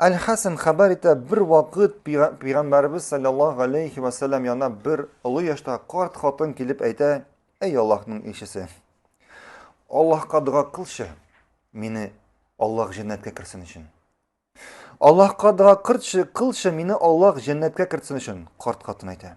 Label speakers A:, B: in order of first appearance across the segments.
A: Әл-Хәсән хәбәр итә, бер вакыт Пәйгамбәрбез саллаллаһу алейхи ва саллям янына бер олы яшьтә карт хатын килеп әйтә, әй Аллаһның илчесе, Аллаһка дога кылчы, мине Аллаһ җәннәткә керсен өчен. Аллаһка дога кырчы, кылчы, мине Аллаһ җәннәткә кертсен өчен, карт хатын әйтә.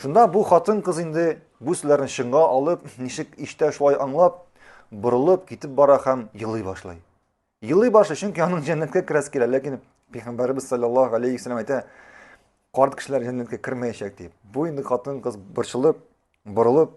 A: Шунда бу хатын-кыз инде бу сүзләрне чынга алып, ничек иштә шулай аңлап, борылып китеп бара һәм елый башлый. Елый башлый, чөнки аның җәннәткә керәсе килә, ләкин Пәйгамбәрбез саллаллаһу алейхи ва саллям әйтә, карт кешеләр җәннәткә кермәячәк дип. Бу инде хатын-кыз борчылып, борылып,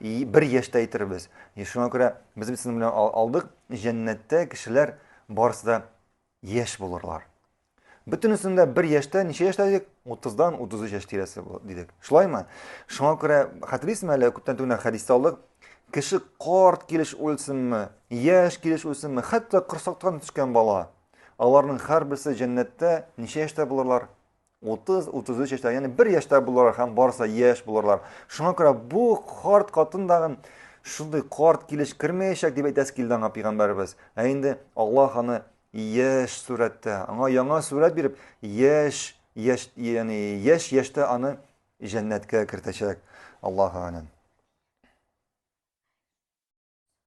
A: И, бер яшьтә әйтербез. И, шуңа күрә без бит сезнең белән алдык, җәннәттә кешеләр барысы да яшь булырлар. Бөтенесен дә бер яшьтә, ничә яшьтә дидек? 30-дан 33 яшь тирәсе дидек. Шулаймы? Шуңа күрә хәтерлисезме әле күптән түгел хәдистә алдык. Кеше карт килеш үлсенме, яшь килеш үлсенме, хәтта корсактан төшкән бала. Аларның һәрберсе җәннәттә ничә яшьтә булырлар? 30-33 яшьтә, ягъни бер яшьтә булалар һәм барысы яшь булырлар. Шуңа күрә бу карт катын тагын шундый карт килеш кермәячәк дип әйтәсе килде аңа пәйгамбәребез. Ә инде Аллаһ аны яшь сурәттә, аңа яңа сурәт биреп, яшь, яшь, ягъни яшь яшьтә аны җәннәткә кертәчәк. Аллаһу а'лам.